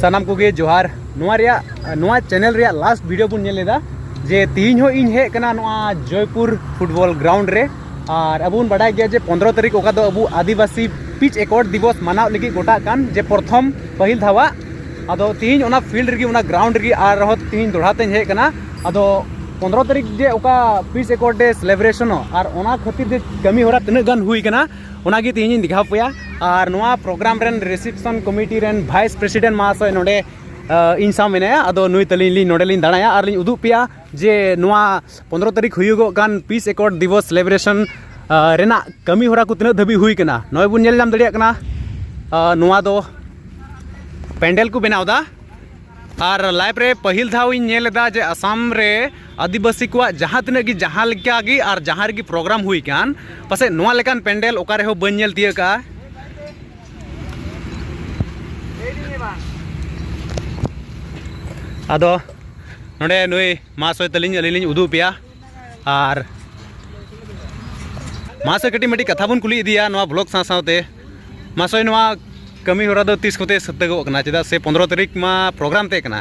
ᱥᱟᱱᱟᱢ ᱠᱚᱜᱮ ᱡᱚᱦᱟᱨ ᱱᱚᱣᱟ ᱨᱮᱭᱟᱜ ᱱᱚᱣᱟ ᱪᱮᱱᱮᱞ ᱨᱮᱭᱟᱜ ᱞᱟᱥᱴ ᱵᱷᱤᱰᱤᱭᱳ ᱵᱚᱱ ᱧᱮᱞ ᱞᱮᱫᱟ ᱡᱮ ᱛᱤᱦᱤᱧ ᱦᱚᱸ ᱤᱧ ᱦᱮᱡ ᱠᱟᱱᱟ ᱱᱚᱣᱟ ᱡᱚᱭᱯᱩᱨ ᱯᱷᱩᱴᱵᱚᱞ ᱜᱨᱟᱣᱩᱱᱰ ᱨᱮ ᱟᱨ ᱟᱵᱚ ᱵᱚᱱ ᱵᱟᱰᱟᱭ ᱜᱮᱭᱟ ᱡᱮ ᱯᱚᱱᱫᱨᱚ ᱛᱟᱹᱨᱤᱠᱷ ᱚᱠᱟ ᱫᱚ ᱟᱵᱚ ᱟᱹᱫᱤᱵᱟᱹᱥᱤ ᱯᱤᱪ ᱮᱠᱚᱨ ᱫᱤᱵᱚᱥ ᱢᱟᱱᱟᱣ ᱞᱟᱹᱜᱤᱫ ᱜᱚᱴᱟᱜ ᱠᱟᱱ ᱡᱮ ᱯᱨᱚᱛᱷᱚᱢ ᱯᱟᱹᱦᱤᱞ ᱫᱷᱟᱣᱟᱜ ᱟᱫᱚ ᱛᱤᱦᱤᱧ ᱚᱱᱟ ᱯᱷᱤᱞᱰ ᱨᱮᱜᱮ ᱚᱱᱟ ᱜᱨᱟᱣᱩᱱᱰ ᱨᱮᱜᱮ ᱟᱨ ᱦᱚᱸ ᱛᱤᱦᱤᱧ ᱫᱚᱲᱦᱟ ᱛᱮᱧ ᱦᱮᱡ ᱠᱟᱱᱟ ᱟᱫᱚ ᱯᱚᱱᱫᱨᱚ ᱛᱟᱹᱨᱤᱠᱷ ᱡᱮ ᱚᱠᱟ ᱯᱤᱪ ᱮᱠᱚᱨ ᱰᱮ ᱥᱮᱞᱮᱵᱨᱮᱥᱚᱱᱚᱜ ᱟᱨ ᱚᱱᱟ ᱠᱷᱟᱹᱛᱤᱨ ᱡᱮ ᱠᱟᱹᱢᱤ ᱦᱚᱨᱟ ᱛᱤᱱᱟᱹᱜ ᱜᱟᱱ ᱦᱩᱭ ᱠᱟᱱᱟ ᱚᱱᱟᱜᱮ ᱛᱮᱦᱮᱧ ᱤᱧ ᱫᱮᱠᱷᱟᱣ ᱯᱮᱭᱟ ᱟᱨ ᱱᱚᱣᱟ ᱯᱨᱳᱜᱨᱟᱢ ᱨᱮᱱ ᱨᱤᱥᱮᱯᱥᱚᱱ ᱠᱚᱢᱤᱴᱤ ᱨᱮᱱ ᱵᱷᱟᱭᱤᱥ ᱯᱨᱮᱥᱤᱰᱮᱱᱴ ᱢᱟᱦᱟᱥᱚᱭ ᱱᱚᱰᱮ ᱤᱧ ᱥᱟᱶ ᱢᱮᱱᱟᱭᱟ ᱟᱫᱚ ᱱᱩᱭ ᱛᱟᱹᱞᱤᱧ ᱞᱤᱧ ᱱᱚᱰᱮ ᱞᱤᱧ ᱫᱟᱬᱟᱭᱟ ᱟᱨ ᱞᱤᱧ ᱩᱫᱩᱜ ᱯᱮᱭᱟ ᱡᱮ ᱱᱚᱣᱟ ᱯᱚᱸᱫᱽᱨᱚ ᱛᱟᱹᱨᱤᱠᱷ ᱦᱩᱭᱩᱜᱚᱜ ᱠᱟᱱ ᱯᱤᱥ ᱮᱠᱚᱨᱰ ᱫᱤᱵᱚᱥ ᱥᱮᱞᱤᱵᱨᱮᱥᱚᱱ ᱨᱮᱱᱟᱜ ᱠᱟᱹᱢᱤ ᱦᱚᱨᱟ ᱠᱚ ᱛᱤᱱᱟᱹᱜ ᱫᱷᱟᱹᱵᱤᱡ ᱦᱩᱭ ᱠᱟᱱᱟ ᱱᱚᱜᱼᱚᱭ ᱵᱚᱱ ᱧᱮᱞ ᱧᱟᱢ ᱫᱟᱲᱮᱭᱟᱜ ᱠᱟᱱᱟ ᱱᱚᱣᱟ ᱫᱚ ᱯᱮᱱᱰᱮᱞ ᱠᱚ ᱵᱮᱱᱟᱣᱫᱟ ᱟᱨ ᱞᱟᱭᱤᱯᱷ ᱨᱮ ᱯᱟᱹᱦᱤᱞ ᱫᱷᱟᱣ ᱤᱧ ᱧᱮᱞ ᱮᱫᱟ ᱡᱮ ᱟᱥᱟᱢ ᱨᱮ ᱟᱹᱫᱤᱵᱟᱹᱥᱤ ᱠᱚᱣᱟᱜ ᱡᱟᱦᱟᱸ ᱛᱤᱱᱟᱹᱜ ᱜᱮ ᱡᱟᱦᱟᱸ ᱞᱮᱠᱟ ᱜᱮ ᱟᱨ ᱡᱟᱦᱟᱸ ᱨᱮᱜᱮ ᱯᱨᱳᱜᱨᱟᱢ ᱦᱩᱭ ᱠᱟᱱ ᱯᱟᱥᱮᱡ ᱱᱚᱣᱟ ᱞᱮᱠᱟᱱ ᱯᱮᱱᱰᱮᱞ ᱚᱠᱟ ᱨᱮᱦᱚᱸ ᱵᱟᱹᱧ ᱧᱮᱞ ᱛᱤᱭᱟᱹᱜ ᱠᱟᱜᱼᱟ ᱟᱫᱚ ᱱᱚᱰᱮ ᱱᱩᱭ ᱢᱟᱦᱟᱥᱚᱭ ᱛᱟᱹᱞᱤᱧ ᱟᱹᱞᱤᱧ ᱞᱤᱧ ᱩᱫᱩᱜ ᱯᱮᱭᱟ ᱟᱨ ᱢᱟᱦᱟᱥᱚᱭ ᱠᱟᱹᱴᱤᱡ ᱢᱤᱫᱴᱤᱡ ᱠᱟᱛᱷᱟ ᱵᱚᱱ ᱠᱩᱞᱤ ᱤᱫᱤᱭᱟ ᱱᱚᱣᱟ ᱵᱞᱚᱜ ᱥᱟᱶ ᱥᱟᱶᱛᱮ ᱢᱟᱦᱟᱥᱚᱭ ᱱᱚᱣᱟ ᱠᱟᱹᱢᱤ ᱦᱚᱨᱟ ᱫᱚ ᱛᱤᱥ ᱠᱚᱛᱮ ᱥᱟᱹᱛᱟᱹᱜᱚᱜ ᱠᱟᱱᱟ ᱪᱮᱫᱟᱜ ᱥᱮ ᱯᱚᱸᱫᱽᱨᱚ ᱛᱟᱹᱨᱤᱠᱷ ᱢᱟ ᱯᱨᱳᱜᱨᱟᱢ ᱛᱟᱦᱮᱸ ᱠᱟᱱᱟ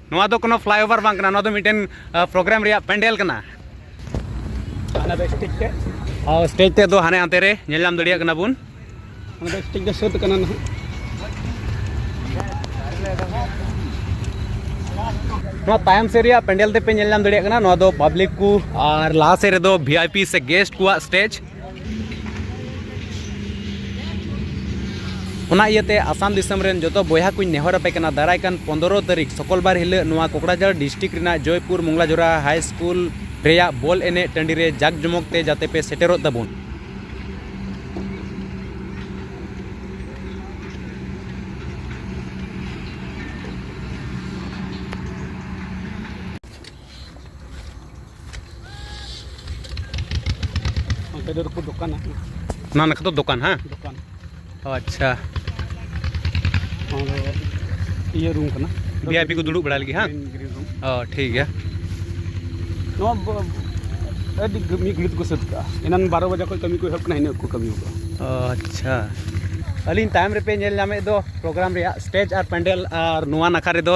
ᱱᱚᱣᱟ ᱫᱚ ᱠᱳᱱᱳ ᱯᱷᱞᱟᱭᱳᱵᱷᱟᱨ ᱵᱟᱝ ᱠᱟᱱᱟ ᱱᱚᱣᱟ ᱫᱚ ᱢᱤᱫᱴᱮᱱ ᱯᱨᱳᱜᱨᱟᱢ ᱨᱮᱭᱟᱜ ᱯᱮᱱᱰᱮᱞ ᱠᱟᱱᱟ ᱦᱟᱱᱟ ᱫᱚ ᱥᱴᱮᱡᱽ ᱛᱮ ᱟᱨ ᱥᱴᱮᱡᱽ ᱛᱮ ᱫᱚ ᱦᱟᱱᱮ ᱦᱟᱱᱛᱮ ᱨᱮ ᱧᱮᱞ ᱧᱟᱢ ᱫᱟᱲᱮᱭᱟᱜ ᱠᱟᱱᱟ ᱵᱚᱱ ᱦᱟᱱᱟ ᱫᱚ ᱥᱴᱮᱡᱽ ᱫᱚ ᱥᱟᱹᱛ ᱠᱟᱱᱟ ᱱᱟᱦᱟᱜ ᱱᱚᱣᱟ ᱛᱟᱭᱚᱢ ᱥᱮᱫ ᱨᱮᱭᱟᱜ ᱯᱮᱱᱰᱮᱞ ᱛᱮᱯᱮ ᱧᱮᱞ ᱧᱟᱢ ᱫᱟᱲᱮᱭᱟᱜ ᱠᱟᱱᱟ ᱱᱚᱣᱟ ᱫᱚ ᱯᱟᱵᱽᱞᱤᱠ ᱠᱚ ᱟᱨ ᱞᱟᱦᱟ ᱥᱮᱫ ᱨᱮᱫᱚ ᱵᱷᱤ ᱟᱭ ᱯᱤ ᱥᱮ ᱜᱮᱥᱴ ᱠᱚᱣᱟᱜ ᱥᱴᱮᱡᱽ ᱚᱱᱟ ᱤᱭᱟᱹᱛᱮ ᱟᱥᱟᱢ ᱫᱤᱥᱚᱢ ᱨᱮᱱ ᱡᱚᱛᱚ ᱵᱚᱭᱦᱟ ᱠᱚᱧ ᱱᱮᱦᱚᱨ ᱟᱯᱮ ᱠᱟᱱᱟ ᱫᱟᱨᱟᱭ ᱠᱟᱱ ᱯᱚᱱᱫᱨᱚ ᱛᱟᱹᱨᱤᱠᱷ ᱥᱚᱠᱚᱞᱵᱟᱨ ᱦᱤᱞᱟᱹᱜ ᱱᱚᱣᱟ ᱠᱚᱠᱲᱟᱡᱟᱲ ᱰᱤᱥᱴᱤᱠ ᱨᱮᱱᱟᱜ ᱡᱚᱭᱯᱩᱨ ᱢᱚᱝᱞᱟᱡᱷᱚᱨᱟ ᱦᱟᱭ ᱥᱠᱩᱞ ᱨᱮᱭᱟᱜ ᱵᱚᱞ ᱮᱱᱮᱡ ᱴᱟᱺᱰᱤ ᱨᱮ ᱡᱟᱠ ᱡᱚᱢᱚᱠ ᱛᱮ ᱡᱟᱛᱮ ᱯᱮ ᱥᱮᱴᱮᱨᱚᱜ ᱛᱟᱵᱚᱱ ᱚᱱᱟ ᱱᱟᱠᱷᱟ ᱫᱚ ᱫᱚᱠᱟᱱ ᱦᱮᱸ ᱫᱚᱠᱟᱱ ᱟᱪᱪᱷᱟ ᱤᱭᱟᱹ ᱨᱩᱢ ᱠᱟᱱᱟ ᱵᱷᱤ ᱟᱭ ᱯᱤ ᱠᱚ ᱫᱩᱲᱩᱵ ᱵᱟᱲᱟᱭ ᱞᱟᱹᱜᱤᱫ ᱦᱮᱸ ᱚ ᱴᱷᱤᱠ ᱜᱮᱭᱟ ᱱᱚᱣᱟ ᱟᱹᱰᱤ ᱢᱤᱫ ᱜᱷᱟᱹᱲᱤᱡ ᱛᱮᱠᱚ ᱥᱟᱹᱛ ᱠᱟᱜᱼᱟ ᱮᱱᱟᱱ ᱵᱟᱨᱚ ᱵᱟᱡᱟ ᱠᱷᱚᱱ ᱠᱟᱹᱢᱤ ᱠᱚ ᱮᱦᱚᱵ ᱠᱟᱱᱟ ᱤᱱᱟᱹᱜ ᱠᱚ ᱠᱟᱹᱢᱤ ᱠᱟᱜᱼᱟ ᱚ ᱟᱪᱪᱷᱟ ᱟᱹᱞᱤᱧ ᱛᱟᱭᱚᱢ ᱨᱮᱯᱮ ᱧᱮᱞ ᱧᱟᱢᱮᱫ ᱫᱚ ᱯᱨᱳᱜᱨᱟᱢ ᱨᱮᱭᱟᱜ ᱥᱴᱮᱡᱽ ᱟᱨ ᱯᱮᱱᱰᱮᱞ ᱟᱨ ᱱᱚᱣᱟ ᱱᱟᱠᱷᱟ ᱨᱮᱫᱚ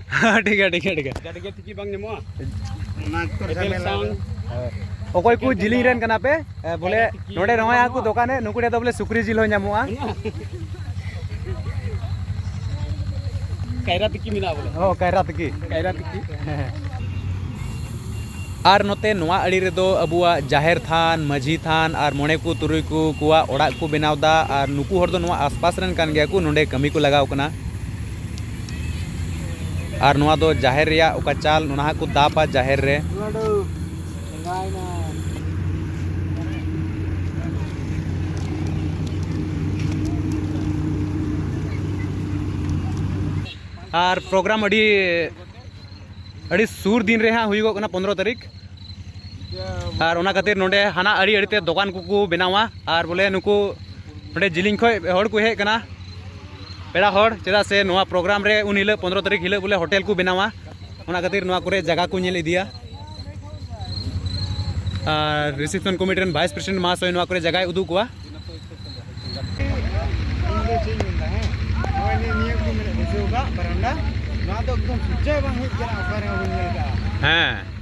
ᱴᱷᱤᱠ ᱜᱮᱭᱟ ᱴᱷᱤᱠ ᱜᱮᱭᱟ ᱴᱷᱤᱠ ᱜᱮᱭᱟ ᱜᱟᱹᱰᱤ ᱜᱮ ᱴᱷᱤᱠ ᱵᱟᱝ ᱧᱟᱢᱚᱜᱼᱟ ᱚᱠᱚᱭ ᱠᱚ ᱡᱤᱞᱤᱧ ᱨᱮᱱ ᱠᱟᱱᱟ ᱯᱮ ᱵᱚᱞᱮ ᱱᱚᱰᱮ ᱱᱚᱜᱼᱚᱭ ᱟᱠᱚ ᱫᱚᱠᱟᱱᱮ ᱱᱩᱠᱩ ᱴᱷᱮᱱ ᱫᱚ ᱵᱚᱞᱮ ᱥᱩᱠᱨᱤ ᱡᱤᱞ ᱦᱚᱸ ᱧᱟᱢᱚᱜᱼᱟ ᱠᱟᱭᱨᱟ ᱛᱤᱠᱤ ᱢᱮᱱᱟᱜᱼᱟ ᱵᱚᱞᱮ ᱦᱚᱸ ᱠᱟᱭᱨᱟ ᱛᱤᱠᱤ ᱠᱟᱭᱨᱟ ᱛᱤᱠᱤ ᱟᱨ ᱱᱚᱛᱮ ᱱᱚᱣᱟ ᱟᱲᱤ ᱨᱮᱫᱚ ᱟᱵᱚᱣᱟᱜ ᱡᱟᱦᱮᱨ ᱛᱷᱟᱱ ᱢᱟᱹᱡᱷᱤ ᱛᱷᱟᱱ ᱟᱨ ᱢᱚᱬᱮ ᱠᱚ ᱛᱩᱨᱩᱭ ᱠᱚ ᱠᱚᱣᱟᱜ ᱚᱲᱟᱜ ᱠᱚ ᱵᱮᱱᱟᱣᱫᱟ ᱟᱨ ᱱᱩᱠᱩ ᱦᱚᱲ ᱫᱚ ᱱᱚᱣᱟ ᱟᱥᱯᱟᱥ ᱨᱮᱱ ᱠᱟᱱ ᱜᱮᱭᱟ ᱠᱚ ᱱᱚᱰᱮ ᱠᱟᱹᱢᱤ ᱠᱚ ᱞᱟᱜᱟᱣ ᱠᱟᱱᱟ ᱟᱨ ᱱᱚᱣᱟ ᱫᱚ ᱡᱟᱦᱮᱨ ᱨᱮᱭᱟᱜ ᱚᱠᱟ ᱪᱟᱞ ᱚᱱᱟ ᱦᱚᱸᱠᱚ ᱫᱟᱵᱟ ᱡᱟᱦᱮᱨ ᱨᱮ ᱟᱨ ᱯᱨᱳᱜᱨᱟᱢ ᱟᱹᱰᱤ ᱟᱹᱰᱤ ᱥᱩᱨ ᱫᱤᱱ ᱨᱮ ᱦᱟᱸᱜ ᱦᱩᱭᱩᱜᱚᱜ ᱠᱟᱱᱟ ᱯᱚᱱᱨᱚ ᱛᱟᱹᱨᱤᱠᱷ ᱟᱨ ᱚᱱᱟ ᱠᱷᱟᱹᱛᱤᱨ ᱱᱚᱰᱮ ᱦᱟᱱᱟ ᱟᱹᱰᱤ ᱟᱹᱰᱤᱛᱮ ᱫᱚᱠᱟᱱ ᱠᱚᱠᱚ ᱵᱮᱱᱟᱣᱟ ᱟᱨ ᱵᱚᱞᱮ ᱱᱩᱠᱩ ᱱᱚᱰᱮ ᱡᱤᱞᱤᱧ ᱠᱷᱚᱡ ᱦᱚᱲ ᱠᱚ ᱦᱮᱡ ᱠᱟᱱᱟ ᱯᱮᱲᱟ ᱦᱚᱲ ᱪᱮᱫᱟᱜ ᱥᱮ ᱱᱚᱣᱟ ᱯᱨᱳᱜᱨᱟᱢ ᱨᱮ ᱩᱱ ᱦᱤᱞᱳᱜ ᱯᱚᱱᱨᱚ ᱛᱟᱹᱨᱤᱠᱷ ᱦᱤᱞᱳᱜ ᱵᱚᱞᱮ ᱦᱳᱴᱮᱞ ᱠᱚ ᱵᱮᱱᱟᱣᱟ ᱚᱱᱟ ᱠᱷᱟᱹᱛᱤᱨ ᱱᱚᱣᱟ ᱠᱚᱨᱮ ᱡᱟᱭᱜᱟ ᱠᱚ ᱧᱮᱞ ᱤᱫᱤᱭᱟ ᱟᱨ ᱨᱤᱥᱮᱯᱥᱚᱱ ᱠᱚᱢᱤᱴᱤ ᱨᱮᱱ ᱵᱷᱟᱭᱤᱥ ᱯᱨᱮᱥᱤᱰᱮᱱᱴ ᱢᱟᱦᱟᱥᱚᱭ ᱱᱚᱣᱟ ᱠᱚᱨᱮ ᱡᱟᱭᱜᱟᱭ ᱩᱫᱩᱜ ᱠᱚᱣᱟ ᱦᱮᱸ